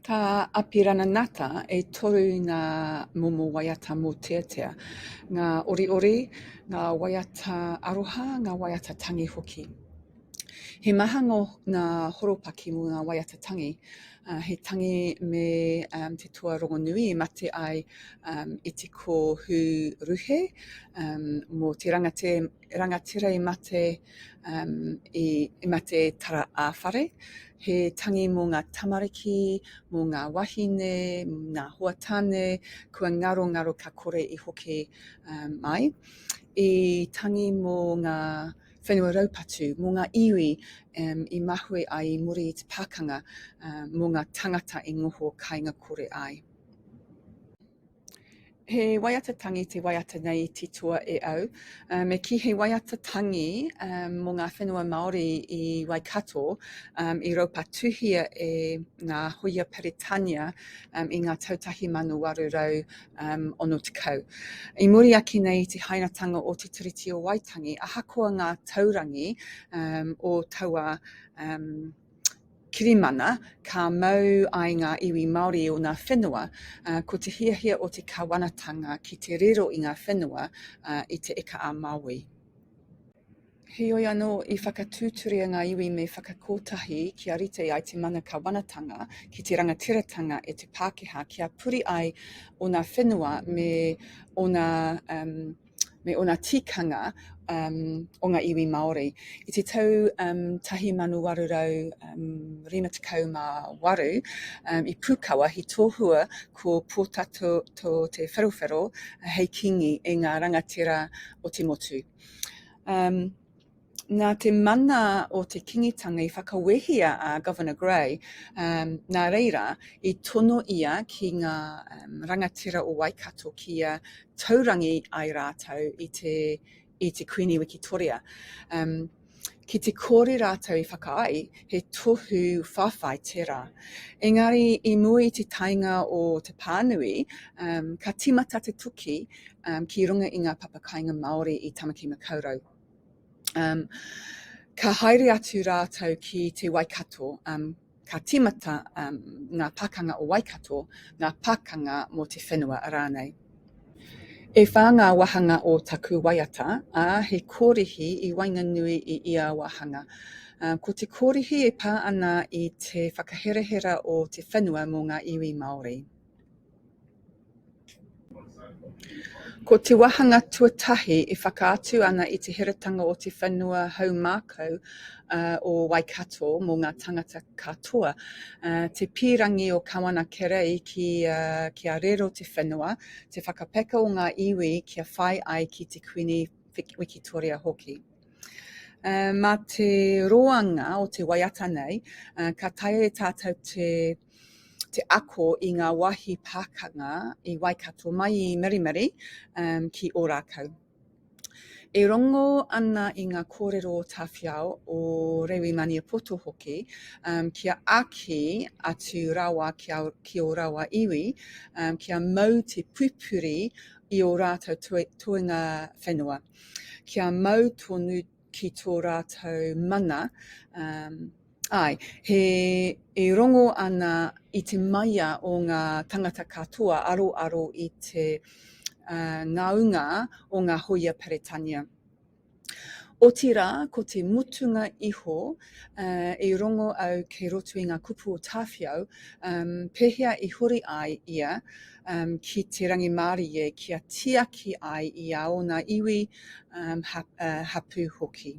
Tā Apirana Ngata e toru ngā momo waiata mōteatea, ngā oriori, ngā waiata aroha, ngā waiata tangi hoki. He maha ngō ngā horopaki mō ngā waiata tangi, uh, he tangi me um, te toa rongonui e mate ai um, i te kōhū ruhe um, mō te rangatē, rangatira i mate um, i, i mate tara ā whare, he tangi mō ngā tamariki, mō ngā wahine, ngā hoa tāne, kua ngaro ngaro ka kore i hoki um, mai. I tangi mō ngā whenua raupatu, mō ngā iwi um, i mahue ai i muri i te pākanga, um, mō ngā tangata i ngoho kainga kore ai. He waiata tangi te waiata nei i titoa e au. Uh, me ki he waiata tangi um, mō ngā whenua Māori i Waikato um, i raupatuhia e ngā hoia Peretania um, i ngā tau 1860. Um, I muri ake nei i te hainatanga o Te Tiriti o Waitangi, ahakoa ngā taurangi um, o taua um, kirimana ka mau ai ngā iwi Māori i ōna whenua, ko te hiahia o te Kawanatanga ki te riro i ngā whenua i Te Ika-a-Māui. Heoi anō, i whakatūturia ngā iwi me whakakotahi kia rite ai te mana Kawanatanga ki te rangatiratanga e te Pākehā kia puri ai ōna whenua me ōna me ōna tikanga um, o ngā iwi Māori. I te tau um, 1858, um, i Pūkawa, he tohua ko Pōtato to Te Wherowhero hei kingi e ngā rangatira o te motu. Um, nā te mana o te Kingitanga i whakawehia a Governor Grey, um, nā reira, i tono ia ki ngā um, rangatira o Waikato kia taurangi ai rātou i te, i te Kuini Wikitoria. Um, ki te kore rātou i whakaai, he tohu whawhai tērā. Engari, i mua i te taenga o te pānui, um, ka timata te toki um, ki runga i ngā papakainga Māori i Tamaki Makaurau. Um, ka haere atu rātou ki te Waikato, um, ka timata um, ngā pakanga o Waikato, ngā pakanga mō te whenua rānei. E whā ngā wahanga o taku waiata, ā, he kōrihi i waenganui i ia wahanga. Um, ko te kōrihi e pā ana i te whakaherahera o te whenua mō ngā iwi Māori. Ko te wāhanga tuatahi e whakaatu ana i te heratanga o te whenua haumākau o Waikato mō ngā tāngata katoa, te pīrangi o Kawana Kerei kia rero te whenua, te whakapeka o ngā iwi kia whai ai ki te Kuini Wikitoria hoki. Mā te roanga o te waiata nei, ka taea e tātou te te ako i ngā wāhi pākanga i Waikato mai i Marimari ki Ōrākau. E rongo ana i ngā kōrero o Tāwhiao, o Rewi Maniapoto hoki, um, kia aki atu rawa ki, a, ki o rawa iwi, um, kia mau te pupuri i o rātou toenga whenua. kia mau tonu ki tō rātou mana, āe, he e rongo ana i te maia o ngā tāngata katoa aroaro i te ngaunga o ngā hōia Peretania. Otirā, ko te mutunga iho I rongo au kei roto i ngā kupu o Tāwhiao, pēhea i huri ai ia ki te rangimārie kia tiaki ai i a ōna iwi hapū hoki.